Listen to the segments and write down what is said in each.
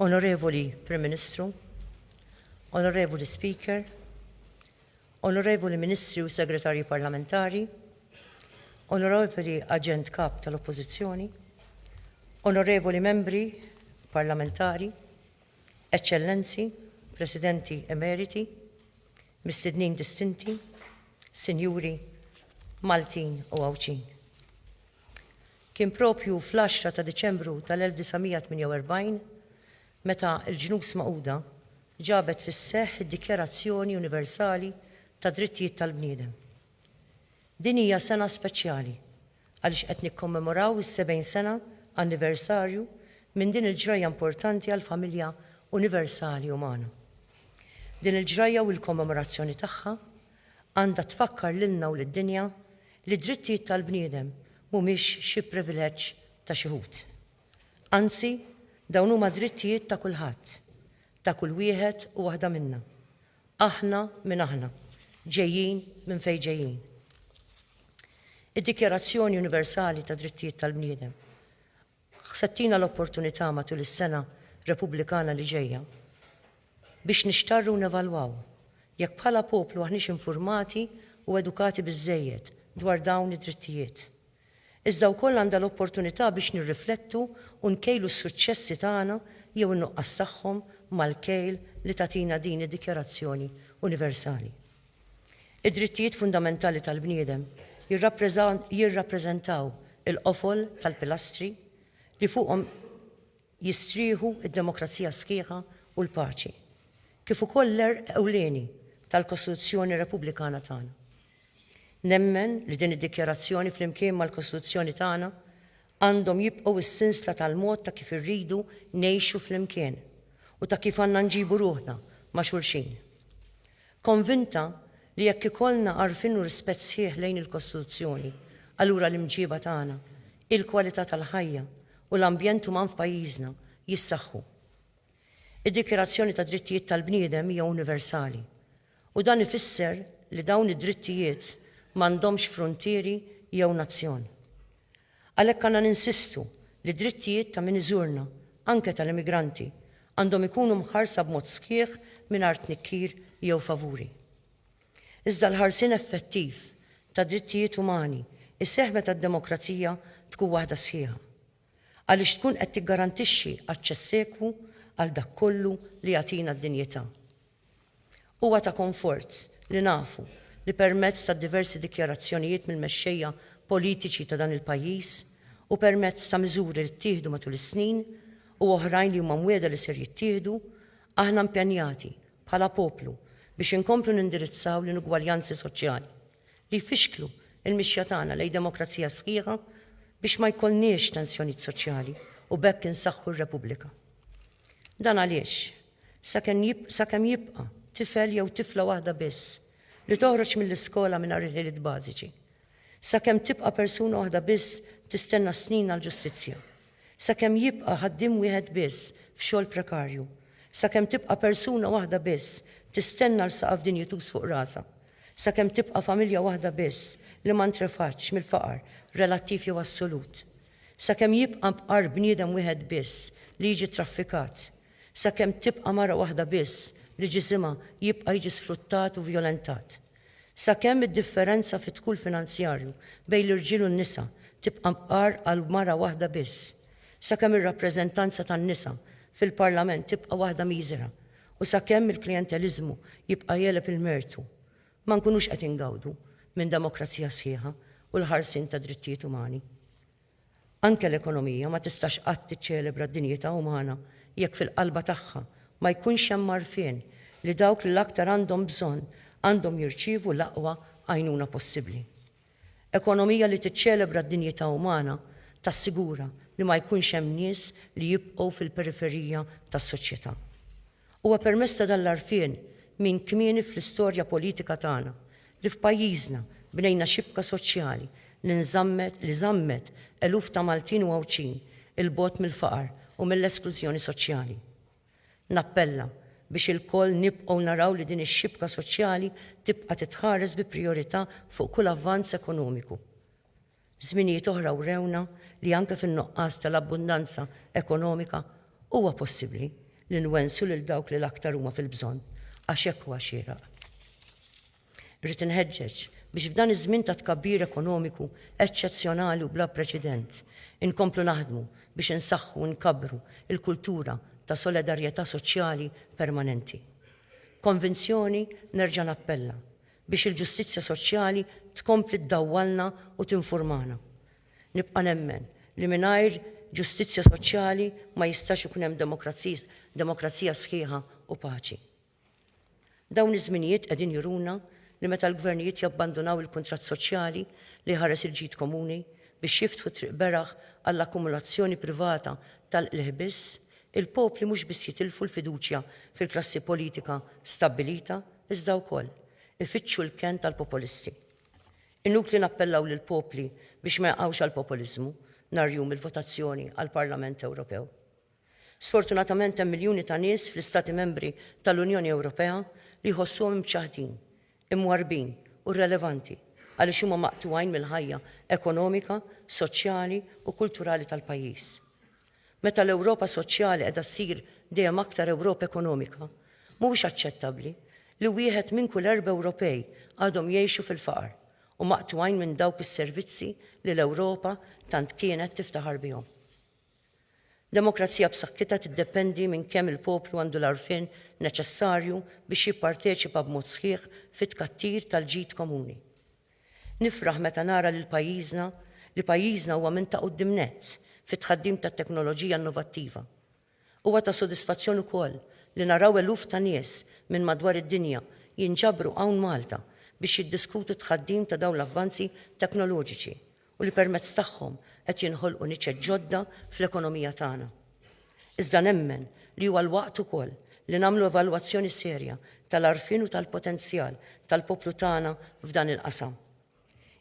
Onorevoli Prim Ministru, Onorevoli Speaker, Onorevoli Ministri u Segretarji Parlamentari, Onorevoli Aġent Kap tal-Oppożizzjoni, Onorevoli Membri Parlamentari, Eċċellenzi, Presidenti Emeriti, Mistednin Distinti, Sinjuri, Maltin u Għawdxin. Kien propju fl-10 ta' Diċembru tal-1948 meta l-Ġnus Magħquda ġabet fis-seħħ id-Dikjarazzjoni Universali tad-Drittijiet tal-Bniedem. Din hija sena speċjali għaliex qed nikkommemoraw is-70 sena anniversarju minn din il-ġrajja importanti għall-familja universali umana. Din il-ġrajja u l-kommemorazzjoni tagħha għandha tfakkar lilna u lid-dinja li d-drittijiet tal-bniedem mhumiex xi privileġġ ta' xi ħut. Anzi, dawn huma drittijiet ta' kulħadd, ta' kull wieħed u waħda minna, aħna min aħna, ġejjin minn fejn ġejjin. Id-Dikjarazzjoni Universali tad-Drittijiet tal-Bniedem se tina l-opportunità matul is-sena Repubblikana li ġejja biex nixtarru u nevalwaw jekk bħala poplu aħniex infurmati u edukati biżżejjed dwar dawn id-drittijiet. iżda wkoll għandha l-opportunità biex nirriflettu u nkejlu s-suċċessi tagħna jew in-nuqqas tagħhom mal-kejl li tagħtina din id-Dikjarazzjoni Universali. Id-drittijiet fundamentali tal-bniedem jirrappreżentaw il-qofol tal-pilastri li fuqhom jistrieħu d-demokrazija sħiħa u l-paċi, kif ukoll l-għerq ewlieni tal-Kostituzzjoni Repubblikana tagħna. Nemmen li din id-dikjarazzjoni flimkien mal-Kostituzzjoni tagħna għandhom jibqgħu s-sinsla tal-mod ta' kif irridu ngħixu flimkien u ta' kif għandna nġibu ruħna ma' xulxin. Konvinta li jekk ikollna għarfien u rispett sħiħ lejn il-Kostituzzjoni, allura l-imġieba tagħna, il-kwalità tal-ħajja u l-ambjent uman f'pajjiżna jissaħħu. Id-Dikjarazzjoni tad-Drittijiet tal-Bniedem hija universali U dan ifisser li dawn id-drittijiet m'għandhomx fruntieri jew nazzjon. Għalhekk għandna ninsistu li d-drittijiet ta' min iżurna, anke tal-immigranti, għandhom ikunu mħarsa b'mod sħiħ mingħajr tnikkir jew favuri. Iżda l-ħarsien effettiv tad-drittijiet umani jseħħ meta d-demokrazija tkun waħda sħiħa, għaliex tkun qed tiggarantixxi aċċess ekwu għal dak kollu li jagħtina d-dinjità. Huwa ta' konfort li nafu li permezz ta' diversi dikjarazzjonijiet mill-mexxejja politiċi ta' dan il-pajjiż u permezz ta' miżuri li ttieħdu matul is-snin u oħrajn li huma mwiegħda li ser jittieħdu, aħna impenjati, bħala poplu, biex inkomplu nindirizzaw l-inugwaljanzi soċjali li jfixklu l-mixja tagħna lejn demokrazija sħiħa biex ma jkollniex tensjonijiet soċjali u b'hekk insaħħu r-Repubblika. Dan għaliex, sakemm jibqa' tifel jew tifla waħda biss li toħroġ mill-iskola mingħajr il-ħiliet bażiċi, sakemm tibqa' persuna waħda biss tistenna s-snin għall-ġustizzja, sakemm jibqa' ħaddiem wieħed biss f'xogħol prekarju, sakemm tibqa' persuna waħda biss tistenna għal saqaf dinjituż fuq rasha, sakemm tibqa' familja waħda biss li ma ntrefatx mill-faqar relattiv jew assolut, sakemm jibqa' bqar bniedem wieħed biss li jiġi traffikat, sakemm tibqa' mara waħda biss li ġisimha jibqa' jiġi sfruttat u vjolentat, sakemm id-differenza fid-dħul finanzjarju bejn l-irġiel u n-nisa tibqa' mqar għal mara waħda biss, sakemm ir-rappreżentanza tan-nisa fil-Parlament tibqa' waħda miżera u sakemm il-klijenteliżmu jibqa' jegħleb il-mertu, ma nkunux qed ingawdu minn demokrazija sħiħa u l-ħarsien tad-drittijiet umani. Anke l-ekonomija ma tistax qatt tiċċelebra d-dinjità umana jekk fil-qalba tagħha ma jkunx hemm għarfien li dawk li l-aktar għandhom bżonn għandhom jirċievu l-aqwa għajnuna possibbli. Ekonomija li tiċċelebra d-dinjità umana tassigura li ma jkunx hemm nies li jibqgħu fil-periferija tas-soċjetà. Huwa permezz ta' dan l-għarfien minn kmieni fl-istorja politika tagħna li f'pajjiżna bnejna xibka soċjali li nżammet li żammet eluf ta' Maltin u Għawdxin 'il bogħod mill-faqar u mill-esklużjoni soċjali. Nappella biex ilkoll nibqgħu naraw li din ix-xibka soċjali tibqa' titħares bi prijorità fuq kull avvanz ekonomiku. Żminijiet oħra wrewna li anke fin-nuqqas tal-abbundanza ekonomika huwa possibbli li nwensu lil dawk li l-aktar huma fil-bżonn għax hekk huwa xieraq. Irrid inħeġġeġ biex f'dan iż-żmien ta' tkabbir ekonomiku eċċezzjonali u bla preċedent inkomplu naħdmu biex insaħħu u nkabbru l-kultura ta' soledarjetà soċjali permanenti. B'konvinzjoni nerġa' nappella biex il-ġustizzja soċjali tkompli ddawwalna u tinfurmana. Nibqa' nemmen li mingħajr ġustizzja soċjali ma jistax ikun hemm demokrazija sħiħa u paċi. Dawn iż-żminijiet qegħdin juruna li meta l-gvernijiet jabbandunaw il-kuntratt soċjali li jħares il-ġid komuni biex jiftħu triq beraħ għall-akkumulazzjoni privata tal-qligħ biss, Il-popli mhux biss jitilfu l-fiduċja fil-klassi politika stabbilita iżda wkoll ifittxu l-kenn tal-popolisti. Inutli nappellaw lill-popli biex ma jaqgħux għall-popoliżmu nhar jum il-votazzjoni għall-Parlament Ewropew. Sfortunatament hemm miljuni ta' nies fl-Istati Membri tal-Unjoni Ewropea li jħossuhom imċaħħdin, imwarrbin u rrelevanti għaliex huma maqtugħin mill-ħajja ekonomika, soċjali u kulturali tal-pajjiż. Meta l-Ewropa soċjali qiegħda ssir dejjem aktar Ewropa ekonomika, mhuwiex aċċettabbli li wieħed minn kull erba' Ewropej għadhom jgħixu fil-faqar u maqtugħin minn dawk is-servizzi li l-Ewropa tant kienet tiftaħar bihom. Demokrazija b'saħħitha tiddependi minn kemm il-poplu għandu l-għarfien neċessarju biex jipparteċipa b'mod sħiħ fit-tkattir tal-ġid komuni. Nifraħ meta nara lil pajjiżna li pajjiżna huwa minn ta' quddiem nett fit-tħaddim tat-teknoloġija innovattiva. Huwa ta' sodisfazzjon ukoll li naraw eluf ta' nies minn madwar id-dinja jinġabru hawn Malta biex jiddiskutu t-tħaddim ta' dawn l-avvanzi teknoloġiċi u li permezz tagħhom qed jinħolqu niċeċ ġodda fl-ekonomija tagħna. Iżda nemmen li huwa l-waqt ukoll li nagħmlu evalwazzjoni serja tal-għarfien u tal-potenzjal tal-poplu tagħna f'dan il-qasam.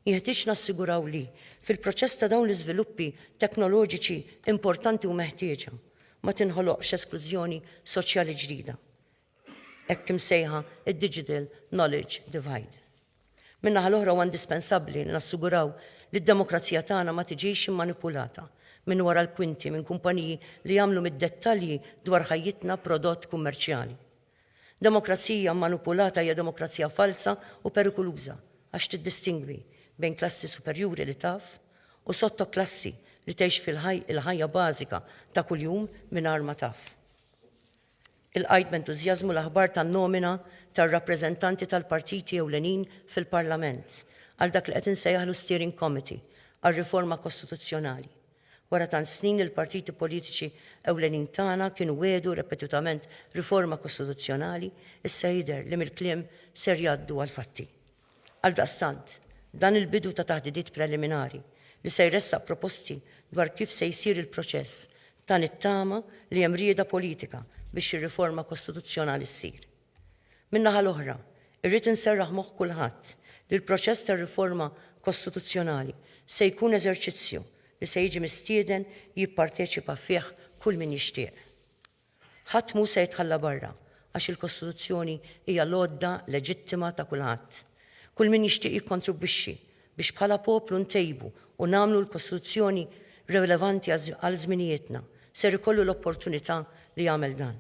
Jeħtieġ nassiguraw li, fil-proċess ta' dawn l-iżviluppi teknoloġiċi importanti u meħtieġa, ma tinħoloqx esklużjoni soċjali ġdida, hekk imsejħa id-digital knowledge divide. Min-naħa l-oħra huwa indispensabbli li nassiguraw li d-demokrazija tagħna ma tiġix immanipulata minn wara l-kwinti minn kumpaniji li jagħmlu mid-dettalji dwar ħajjitna prodott kummerċjali. Demokrazija mmanipulata hija demokrazija falza u perikuluża għax tiddistingwi bejn klassi superjuri li taf u sottoklassi li tgħix fil-ħajja bażika ta' kuljum mingħajr ma taf. Ilqajt b'entużjażmu l-aħbar tan-nomina tar-rappreżentanti tal-partiti ewlenin fil-Parlament għal dak li qed insejjaħlu Steering Committee għar-Riforma Kostituzzjonali. Wara tant snin il-partiti politiċi ewlenin tagħna kienu wiegħdu repetutament riforma kostituzzjonali, issa jidher li mill-kliem ser jgħaddu għall-fatti. Għaldaqstant, dan il-bidu ta' taħdidiet preliminari, li se jressaq proposti dwar kif se jsir il-proċess, ta nittama li hemm rieda politika biex ir-riforma kostituzzjonali ssir. Min-naħa l-oħra, irrid inserraħ moħħ kulħadd li l-proċess tar-riforma kostituzzjonali se jkun eżerċizzju li se jiġi mistieden jipparteċipa fih kull min jixtieq. Ħadd mhu se jitħalla barra, għax il-Kostituzzjoni hija l-għodda leġittima ta' kulħadd. Kull min jixtieq jikkontribwixxi biex bħala poplu ntejbu u nagħmlu l-Kostituzzjoni relevanti għal żminijietna, ser ikollu l-opportunità li jagħmel dan.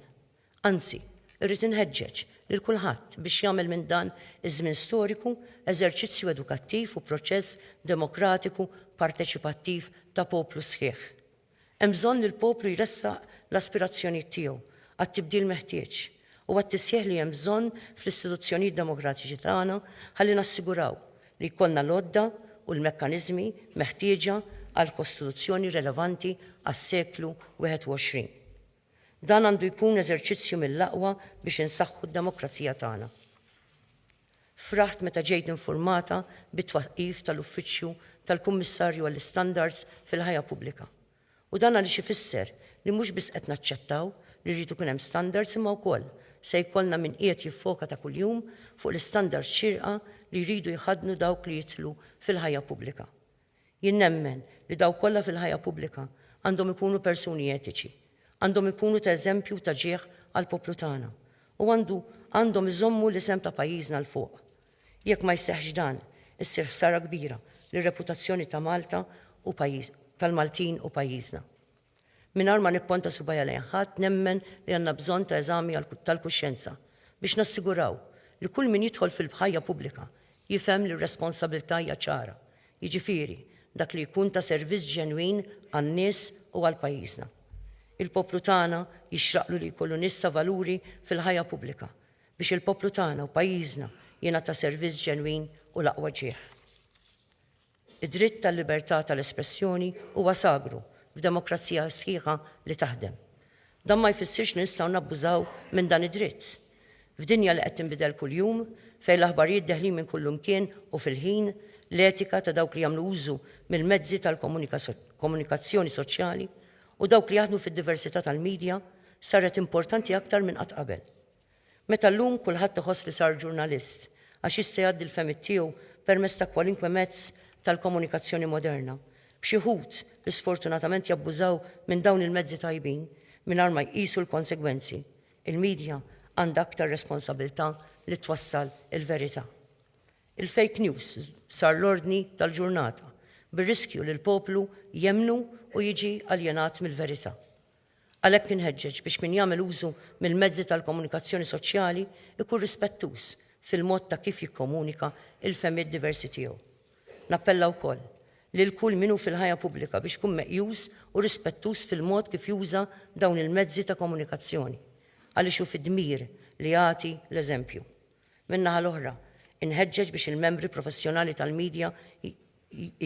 Anzi, irrid inħeġġeġ lil kulħadd biex jagħmel minn dan iż-żmien storiku eżerċizzju edukattiv u proċess demokratiku parteċipattiv ta' poplu sħiħ. Hemm bżonn li l-poplu jressaq l-aspirazzjonijiet tiegħu għat-tibdil meħtieġ u għat-tisħiħ li hemm bżonn fl-istituzzjonijiet demokratiċi tagħna ħalli nassiguraw li jkollna l-għodda u l-mekkaniżmi meħtieġa għal Kostituzzjoni relevanti għas-seklu 21. Dan għandu jkun eżerċizzju mill-aqwa biex insaħħu d-demokrazija tagħna. Fraħt meta ġejt infurmata bit-twaqqif tal-Uffiċċju tal-Kummissarju għall-Istandards fil-Ħajja Pubblika. U dan għaliex ifisser li mhux biss qed naċċettaw li jrid ikun hemm standards imma wkoll se jkollna min qiegħed jiffoka ta' kuljum fuq l-istandards xierqa li jridu jħaddnu dawk li jidħlu fil-ħajja pubblika. Jien nemmen li dawk kollha fil-ħajja pubblika għandhom ikunu persuni etiċi. Għandhom ikunu ta' eżempju u ta' ġieħ għall-poplu tagħna. U għandu għandhom iżommu l-isem ta' pajjiżna 'l fuq. Jekk ma jseħħx dan, issir ħsara kbira lir-reputazzjoni ta' Malta u tal-Maltin u pajjiżna. Mingħajr ma nipponta subajja lejn ħadd nemmen li għandna bżonn ta' eżami tal-kuxjenza biex nassiguraw li kull min jidħol fil-bħajja pubblika jifhem li r-responsabilità hija ċara, jiġifieri dak li jkun ta' servizz ġenwin għan-nies u għal pajjiżna. Il-poplu tagħna jixraqlu li jkollu nies ta' valuri fil-ħajja pubblika biex il-poplu tagħna u pajjiżna jingħata servizz ġenwin u l-aqwa ġieħ. Id-dritt tal-libertà tal-espressjoni huwa sagru f'demokrazija sħiħa li taħdem. Dan ma jfissirx li nistgħu nabbużaw minn dan id-dritt. F'dinja li qed tinbidel kuljum, fejn l-aħbarijiet deħlin minn kullimkien u fil-ħin, l-etika ta' dawk li jagħmlu użu mill-mezzi tal-komunikazzjoni soċjali u dawk li jaħdmu fid-diversità tal-midja saret importanti aktar minn qatt qabel. Meta llum kulħadd iħoss li sar ġurnalist għax jista' jgħaddi l-fehmiet tiegħu permezz ta' kwalinkwe mezz tal-komunikazzjoni moderna, b'xi wħud li sfortunatament jabbużaw minn dawn il-mezzi tajbin mingħajr ma jqisu l-konsegwenzi, il-midja għandha aktar responsabilità li twassal il-verità. Il-fake news sar l-ordni tal-ġurnata, bir-riskju li l-poplu jemmnu u jiġi aljenat mill-verità. Għalhekk inħeġġeġ biex min jagħmel użu mill-mezzi tal-komunikazzjoni soċjali jkun rispettuż fil-mod ta' kif jikkomunika l-fehmiet diversi tiegħu. Nappella wkoll lil kull min hu fil-ħajja pubblika biex ikun meqjus u rispettuż fil-mod kif juża dawn il-mezzi ta' komunikazzjoni għaliex hu fi dmir li jagħti l-eżempju. Min-naħa l-oħra, inħeġġeġ biex il-membri professjonali tal-midja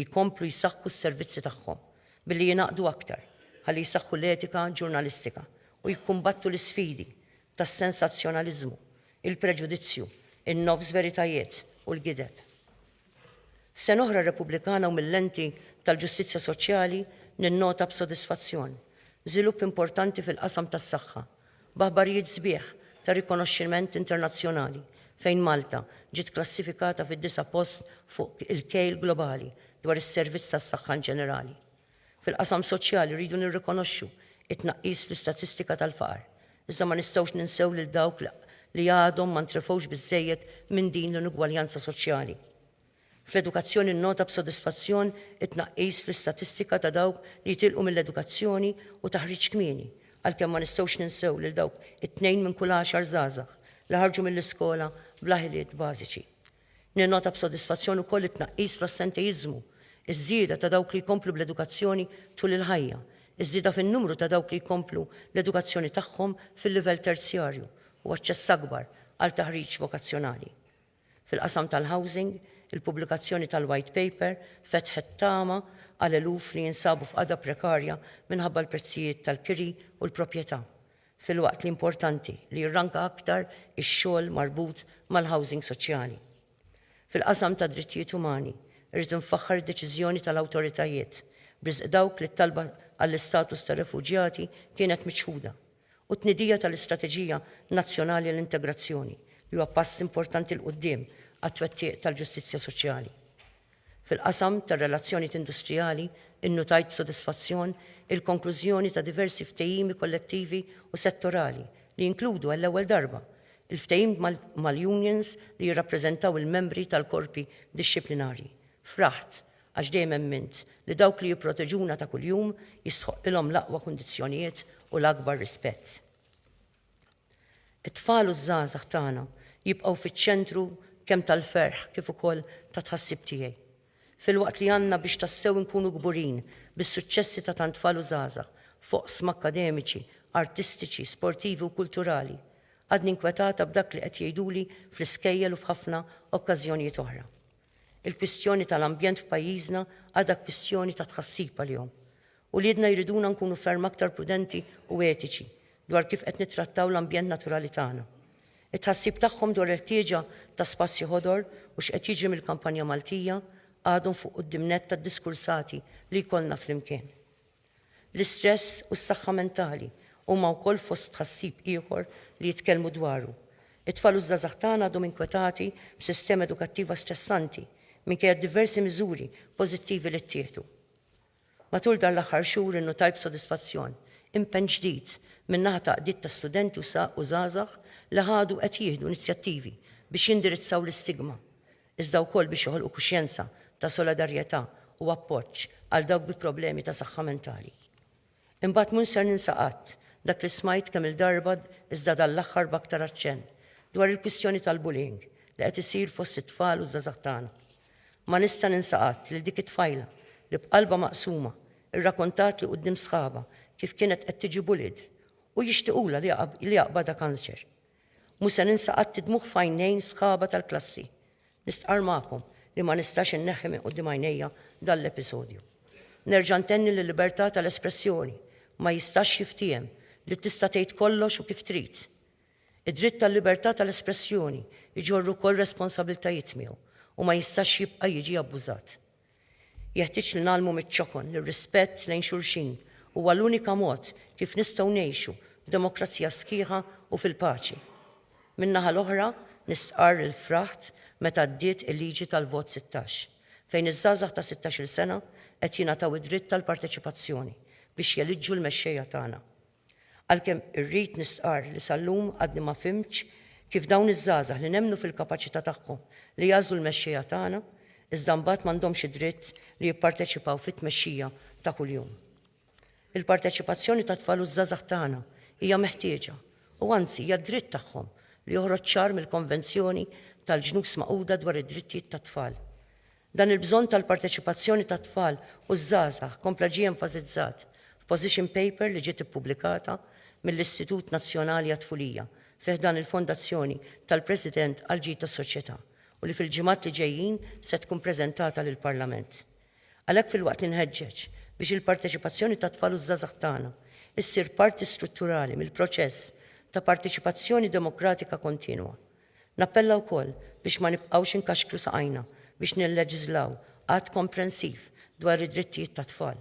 jkomplu jsaħħu s-servizzi tagħhom billi jingħaqdu aktar ħalli jsaħħu l-etika ġurnalistika u jikkumbattu l-isfidi tas-sensazzjonaliżmu, il-preġudizzju, in-nofs veritajiet u l-gideb. F'sena oħra Repubblikana u mill-lenti tal-ġustizzja soċjali ninnota b'sodisfazzjon żvilupp importanti fil-qasam tas-saħħa b'aħbarijiet sbieħ ta' rikonoxximent internazzjonali fejn Malta ġiet klassifikata fid-disa' post fuq il-kejl globali dwar is-servizz tas-saħħa inġenerali. Fil-qasam soċjali rridu nirrikonoxxu t-tnaqqis fl-istatistika tal-faqar, iżda ma nistgħux ninsew lil dawk li għadhom ma ntrefgħux biżżejjed minn din l-inugwaljanza soċjali. Fl-edukazzjoni nnota b'sodisfazzjon it-tnaqqis fl-istatistika ta' dawk li jitilqu mill-edukazzjoni u taħriġ kmieni, għalkemm ma nistgħux ninsew lil dawk it-tnejn minn kull għaxar żgħażagħ li ħarġu mill-iskola bla ħiliet bażiċi. Ninnota b'sodisfazzjon ukoll it-tnaqqis fl-assenteiżmu, iż-żieda ta' dawk li jkomplu bl-edukazzjoni tul il-ħajja, iż-żieda fin-numru ta' dawk li jkomplu l-edukazzjoni tagħhom fil-livell terzjarju u aċċess akbar għal taħriġ vokazzjonali. Fil-qasam tal-housing, il-pubblikazzjoni tal-White Paper fetħet tama għal eluf li jinsabu f'qagħda prekarja minħabba l-prezzijiet tal-kiri u l-proprjetà, filwaqt li importanti li jirranka aktar ix-xogħol marbut mal-housing soċjali. Fil-qasam tad-drittijiet umani, irrid infaħħar id-deċiżjoni tal-awtoritajiet b'riżq dawk li t-talba għall-istatus ta' refuġjati kienet miċħuda, u t-tnidija tal-Istrateġija Nazzjonali għall-Integrazzjoni, li huwa pass importanti 'l quddiem għat-twettiq tal-ġustizzja soċjali. Fil-qasam tar-relazzjonijiet industrijali, innutajt b'sodisfazzjon il-konklużjoni ta' diversi ftehimi kollettivi u settorali li jinkludu għall-ewwel darba, il-ftehim mal-unions li jirrappreżentaw il-membri tal-korpi dixxiplinarji, fraħt, għax dejjem emmint li dawk li jipproteġuna ta' kuljum jistħoqqilhom l-aqwa kundizzjonijiet u l-akbar rispett. It-tfal u ż-żgħażagħ tagħna jibqgħu fiċ-ċentru kemm tal-ferħ kif ukoll ta' tħassib tiegħi. Filwaqt li għandna biex tassew inkunu kburin bis-suċċessi ta' tant tfal u żgħażagħ f'oqsma akkademiċi, artistiċi, sportivi u kulturali, għadni nkwetata b'dak li qed jgħiduli fl-iskejjel u f'ħafna okkażjonijiet oħra. Il-kwistjoni tal-ambjent f'pajjiżna għadha kwistjoni ta' tħassib għalihom. Uliedna jriduna nkunu ferm aktar prudenti u etiċi dwar kif qed nittrattaw l-ambjent naturali tagħna. It-tħassib tagħhom dwar il-ħtieġa ta' spazji ħodor u x'qed jiġri mill-kampanja Maltija għadhom fuq quddiem nett tad-diskursati li jkollna flimkien. L-istress u s-saħħa mentali huma wkoll fost tħassib ieħor li jitkellmu dwaru. It-tfal u ż-żgħażagħ tagħna għadhom inkwetati b'sistema edukattiva stressanti minkejja d-diversi miżuri pożittivi li ttieħdu. Matul dan l-aħħar xhur innutajt b'sodisfazzjon impenn ġdid min-naħa ta' għaqdiet ta' studenti u żgħażagħ li ħadu qed jieħdu inizjattivi biex jindirizzaw l-istigma iżda wkoll biex joħolqu kuxjenza ta' soladarjetà u appoġġ għal dawk bi problemi ta' saħħa mentali. Imbagħad mhux ser ninsa qatt dak li smajt kemm-il darba iżda dan l-aħħar b'aktar aċċenn dwar il-kwistjoni tal-bullying li qed isir fost it-tfal u ż-żgħażagħ tagħna. Ma nista' ninsa qatt lil dik it-tfajla li b'qalbha maqsuma rrakontali quddiem sħabha kif kienet qed tiġi bullied u jixtiqulha li jaqbadha kanċer. Mhux se ninsa qatt id-dmugħ f'għajnejn sħaba tal-klassi. Nistqarr magħkom li ma nistax inneħħi minn quddiem għajnejja dan l-episodju. Nerġa' ntenni li l-libertà tal-espressjoni ma jistax jiftiehem li tista' tgħid kollox u kif trid. Id-dritt tal-libertà tal-espressjoni jġorr ukoll responsabbiltajiet miegħu u ma jistax jibqa' jiġi abbużat. Jeħtieġ li ngħallmu miċ-ċokon li r-rispett lejn xulxin huwa l-unika mod kif nistgħu ngħixu f'demokrazija sħiħa u fil-paċi. Min-naħa l-oħra, nistqarr li fraħt meta għaddiet il-liġi tal-Vot 16, fejn iż-żgħażagħ ta' sittax-il sena qed jingħataw id-dritt tal-parteċipazzjoni biex jeliġġu l-mexxejja tagħna. Għalkemm irrid nistqarr li sal-lum għadni ma fhimtx kif dawn iż-żgħażagħ li nemmnu fil-kapaċità tagħhom li jagħżlu l-mexxejja tagħna iżda mbagħad m'għandhomx id-dritt li jipparteċipaw fit-tmexxija ta' kuljum. Il-parteċipazzjoni tat-tfal u ż-żgħażagħ tagħna hija meħtieġa u anzi hija d-dritt tagħhom li joħroġ ċar mill-Konvenzjoni tal-Ġnus Magħquda dwar id-Drittijiet tat-Tfal. Dan il-bżonn tal-parteċipazzjoni tat-tfal u ż-żgħażagħ kompla ġie enfasizzat f'position paper li ġiet ippubblikata mill-Istitut Nazzjonali għat-Tfulija fi ħdan il-Fondazzjoni tal-President għall-Ġid tas-Soċjetà u li fil-ġimgħat li ġejjin se tkun preżentata lill-Parlament. Għalhekk filwaqt li nħeġġeġ biex il-parteċipazzjoni tat-tfal u ż-żgħażagħ tagħna ssir parti strutturali mill-proċess ta' parteċipazzjoni demokratika kontinwa, Nappella wkoll biex ma nibqgħux inkaxkru saqajna biex nilleġiżlaw Att komprensiv dwar id-drittijiet tat-tfal.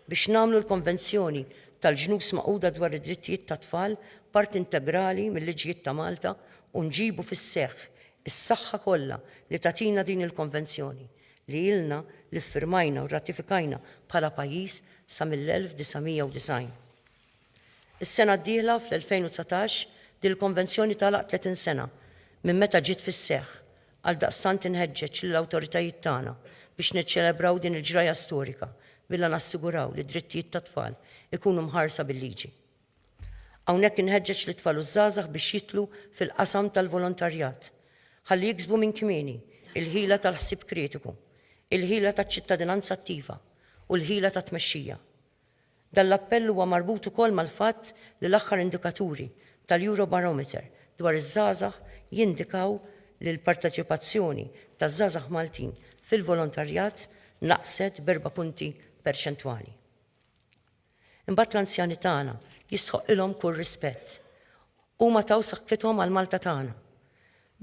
Biex nagħmlu l-Konvenzjoni tal-Ġnus Magħquda dwar id-Drittijiet tat-Tfal parti integrali mil-liġijiet ta' Malta u nġibu fis-seħħ is-saħħa kollha li tagħtina din il-Konvenzjoni li ilna li ffirmajna u rratifikajna bħala pajjiż sa mill-1990. Is-sena d-dieħla, fl-2019, din il-Konvenzjoni tagħlaq 30 sena minn meta ġiet fis-seħħ. Għaldaqstant inħeġġeġ lill-awtoritajiet tagħna biex niċċelebraw din il-ġrajja storika bilha nassiguraw li d-drittijiet tat-tfal ikunu mħarsa bil-liġi. Hawnhekk inħeġġeġ lit-tfal u ż-żgħażagħ biex jidħlu fil-qasam tal-volontarjat ħalli jiksbu minn kmieni l-ħila tal-ħsieb kritiku, il-ħila taċ-ċittadinanza attiva u l-ħila tat-tmexxija. Dan l-appell huwa marbut ukoll mal-fatt li l-aħħar indikaturi tal-Eurobarometer dwar iż-żgħażagħ jindikaw li l-parteċipazzjoni taż-żgħażagħ Maltin fil-volontarjat naqset b'erba' punti perċentwali. Imbagħad l-anzjani tagħna jistħoqqilhom kull rispett. Huma taw saħħithom għal Malta tagħna.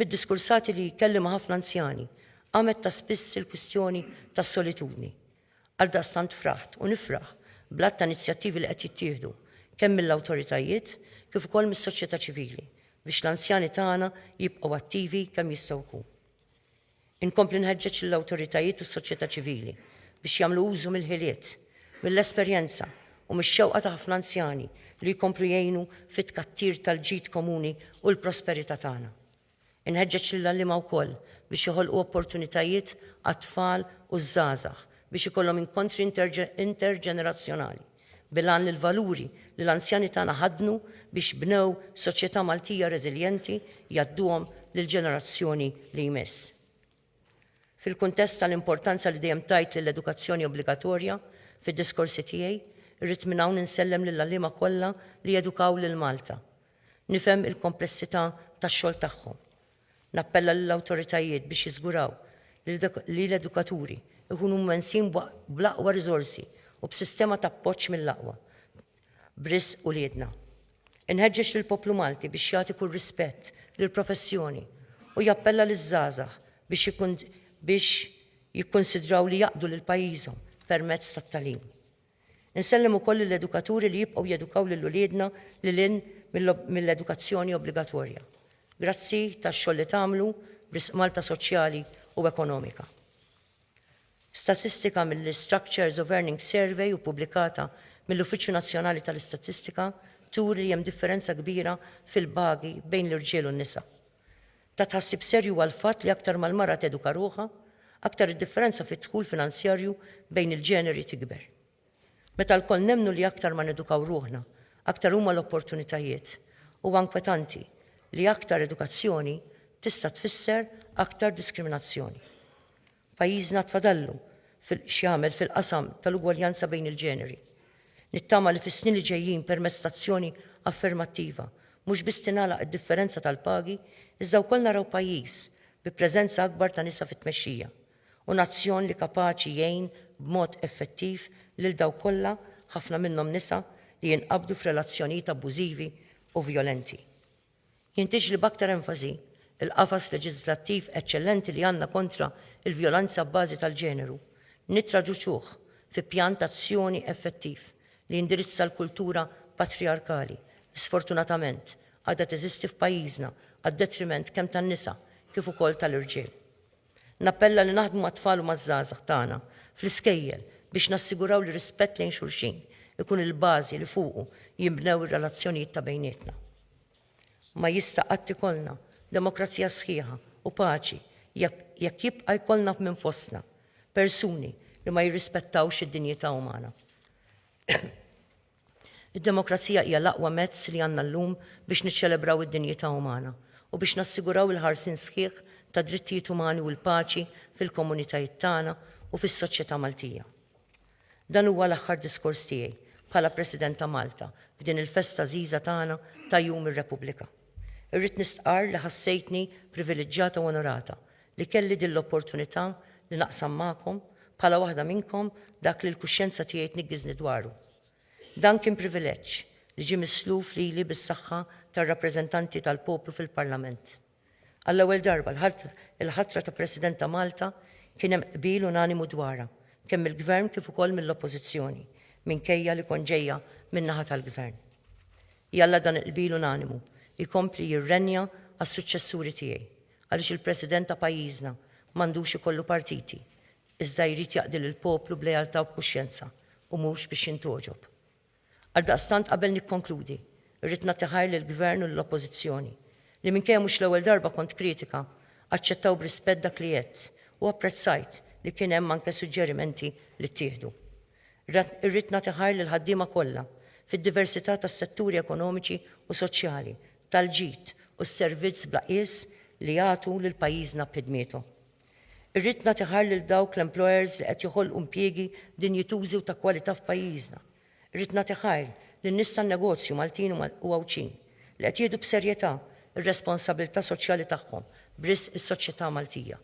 Mid-diskursati li kelli ma' ħafna anzjani, qamet ta' spiss il-kwistjoni tas-solitudni. Għaldaqstant fraħt u nifraħ bl-għadd ta' inizjattivi li qed jittieħdu kemm mill-awtoritajiet kif ukoll mis-soċjetà ċivili biex l-anzjani tagħna jibqgħu attivi kemm jistgħu jkun. Inkompli nħeġġeġ lill-awtoritajiet u s-soċjetà ċivili biex jagħmlu użu mill-ħiliet, mill-esperjenza u mix-xewqa ta' ħafna anzjani li jkomplu jgħinu fit-tkattir tal-ġid komuni u l-prosperità tagħna. Inħeġġeġ lill-għalliema wkoll biex joħolqu opportunitajiet għat-tfal u ż-żgħażagħ biex ikollhom inkontri interġenerazzjonali, bil-għan li l-valuri li l-anzjani tagħna ħaddnu biex bnew soċjetà Maltija reżiljenti jgħadduhom lill-ġenerazzjoni li jmiss. Fil-kuntest tal-importanza li dejjem tajt lill-edukazzjoni obbligatorja, fid-diskorsi tiegħi, irrid minn hawn insellem lill-għalliema kollha li jedukaw lil Malta. Nifhem il-komplessità tax-xogħol tagħhom. Nappella lill-awtoritajiet biex jiżguraw li l-edukaturi jkunu mwensin bl-aqwa riżorsi u b'sistema t'appoġġ mill-aqwa, b'risq uliedna. Inħeġġeġ lill-poplu Malti biex jagħti kull rispett lill-professjoni u jappella liż-żgħażagħ biex jikkunsidraw li jaqdu lil pajjiżhom permezz tat-tagħlim. Insellem ukoll lill-edukaturi li jibqgħu jedukaw lil uliedna lil hinn mill-edukazzjoni obbligatorja. Grazzi tax-xogħol li tagħmlu b'risq Malta soċjali u ekonomika. Statistika mill-Structures of Earning Survey u ppubblikata mill-Uffiċċju Nazzjonali tal-Istatistika turi li hemm differenza kbira fil-pagi bejn l-irġiel u n-nisa. Ta' tħassib serju huwa l-fatt li aktar ma l-mara teduka ruħha, aktar id-differenza fid-dħul finanzjarju bejn il-ġeneri tikber. Meta lkoll nemmnu li aktar ma nedukaw ruħna, aktar huma l-opportunitajiet, huwa inkwetanti li aktar edukazzjoni tista' tfisser aktar diskriminazzjoni. Pajjiżna għad fadallu x'jagħmel fil-qasam tal-ugwaljanza bejn il-ġeneri. Nittama li fis-snin li ġejjin permezz ta' azzjoni affermattiva mhux biss tingħalaq id-differenza tal-pagi iżda wkoll naraw pajjiż bi preżenza akbar ta' nisa fit-tmexxija, u nazzjon li kapaċi jgħin b'mod effettiv lil dawk kollha, ħafna minnhom nisa, li jinqabdu f'relazzjonijiet abbużivi u vjolenti. Jintiġli b'aktar enfasi l-qafas leġiżlattiv eċċellenti li għandna kontra l-vjolenza abbażi tal-ġeneru, nittraduċuh fi pjan t'azzjoni effettiv li jindirizza l-kultura patrijarkali li sfortunatament għadha teżisti f'pajjiżna għad-detriment kemm tan-nisa kif ukoll tal-irġiel. Nappella li naħdmu mat-tfal u maż-żgħażagħ tagħna fl-iskejjel biex nassiguraw li rispett lejn xulxin ikun il-bażi li fuqu jinbnew ir-relazzjonijiet ta' bejnietna. Ma jista' qatt ikollna demokrazija sħiħa u paċi jekk jibqa' jkollna minn fostna persuni li ma jirrispettawx id-dinjità umana. Id-demokrazija hija l-aqwa mezz li għandna llum biex niċċelebraw id-dinjità umana u biex nassiguraw il-ħarsien sħiħ tad-drittijiet umani u l-paċi fil-komunitajiet tagħna u fis-soċjetà Maltija. Dan huwa l-aħħar diskors tiegħi bħala President ta' Malta f'din il-festa għżiża tagħna ta' Jum ir-Repubblika. Irrid nistqarr li ħassejtni priviliġġjata u onorata li kelli din l-opportunità li naqsam magħkom, bħala waħda minnkom, dak li l-kuxjenza tiegħi tniggiżni dwaru. Dan kien privileġġ li ġie misluf lili bis-saħħa tar-rappreżentanti tal-poplu fil-Parlament. Għall-ewwel darba, il-ħatra ta' President ta' Malta kien hemm qbil unanimu dwarha, kemm mill-Gvern kif ukoll mill-Oppożizzjoni, minkejja li kont ġejja min-naħa tal-Gvern. Jalla dan il-qbil unanimu jkompli jirrenja għas-suċċessuri tiegħi għaliex il-President ta' pajjiżna m'għandux ikollu partiti iżda jrid jaqdi lill-poplu b'lealtà u b'kuxjenza u mhux biex jintgħoġob. Għaldaqstant qabel nikkonkludi rrid nagħti ħajr lill-Gvern u lill-Oppożizzjoni li minkejja mhux l-ewwel darba kont kritika aċċettaw b'rispett dak li għedt u apprezzajt li kien hemm anke suġġerimenti li ttieħdu. Irrid nagħti ħarr lill-ħaddiema kollha, fid-diversità tas-setturi ekonomiċi u soċjali, tal-ġid u s-servizz bla qies li jagħtu lil pajjiżna b'ħidmietu. Irrid nagħti ħarr lil dawk l-employers li qed joħolqu impjiegi dinjitużi u ta' kwalità f'pajjiżna. Irrid nagħti ħarr lin-nies tan-negozju Maltin u Għawdxin li qed jieħdu b'serjetà r-responsabilità soċjali tagħhom b'risq is-soċjetà Maltija.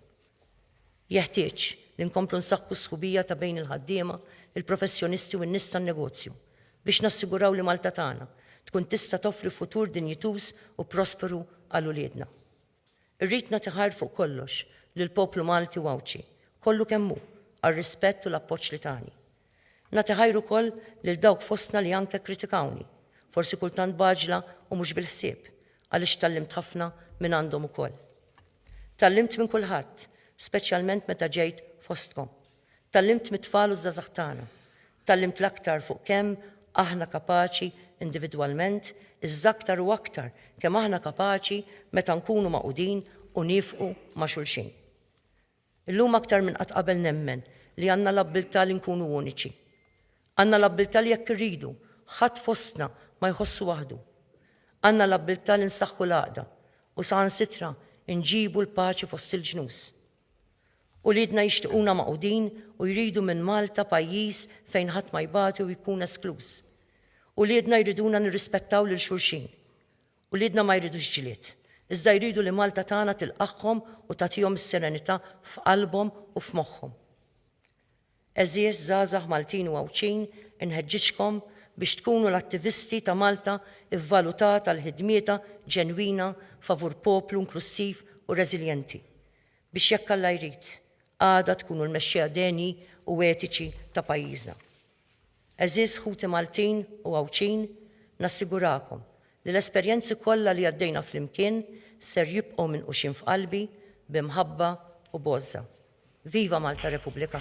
Jeħtieġ li nkomplu nsaħħu s-sħubija ta' bejn il-ħaddiema, il-professjonisti u n-nies tan-negozju biex nassiguraw li Malta tagħna tkun tista' toffri futur dinjituż u prosperu għal uliedna. Irrid nagħti ħajr fuq kollox lill-poplu Malti u Għawdxi kollu kemm hu għar-rispett u l-appoġġ li tani. Nagħti ħajr ukoll lil dawk fostna li anke kkritikawni, forsi kultant b'għaġla u mhux bil-ħsieb, għaliex tgħallimt ħafna minn għandhom ukoll. Tgħallimt minn kulħadd, speċjalment meta ġejt fostkom. Tgħallimt mit-tfal u ż-żgħażagħ tagħna. Tgħallimt l-aktar fuq kemm aħna kapaċi individwalment, iżda aktar u aktar kemm aħna kapaċi meta nkunu magħqudin u niefqu ma' xulxin. Illum aktar minn qatt qabel nemmen li għandna l-abbiltà li nkunu uniċi. Għandna l-abbiltà li jekk irridu, ħadd fostna ma jħossu waħdu. Għandna l-abbiltà li nsaħħu l-għaqda u saħansitra nġibu l-paċi fost il-ġnus. Uliedna jixtiquna magħqudin u jridu minn Malta pajjiż fejn ħadd ma jbati u jkun eskluż. Uliedna jriduna nirrispettaw lil xulxin. Uliedna ma jridux ġlied, iżda jridu li Malta tagħna tilqagħhom u tagħtihom is-serenità f'qalbhom u f'moħħhom. Għeżież żgħażagħ Maltin u Għawdxin, inħeġġiġkom biex tkunu l-attivisti ta' Malta vvalutata l-ħidmietha ġenwina favur poplu inklussiv u reżiljenti, biex jekk Alla jrid, għada tkunu l-mexxejja denji u etiċi ta' pajjiżna. Għeżież ħuti Maltin u Għawdxin, nassigurakom li l-esperjenzi kollha li għaddejna flimkien ser jibqgħu minquxin f'qalbi b'imħabba u b'għożża. Viva Malta Repubblika!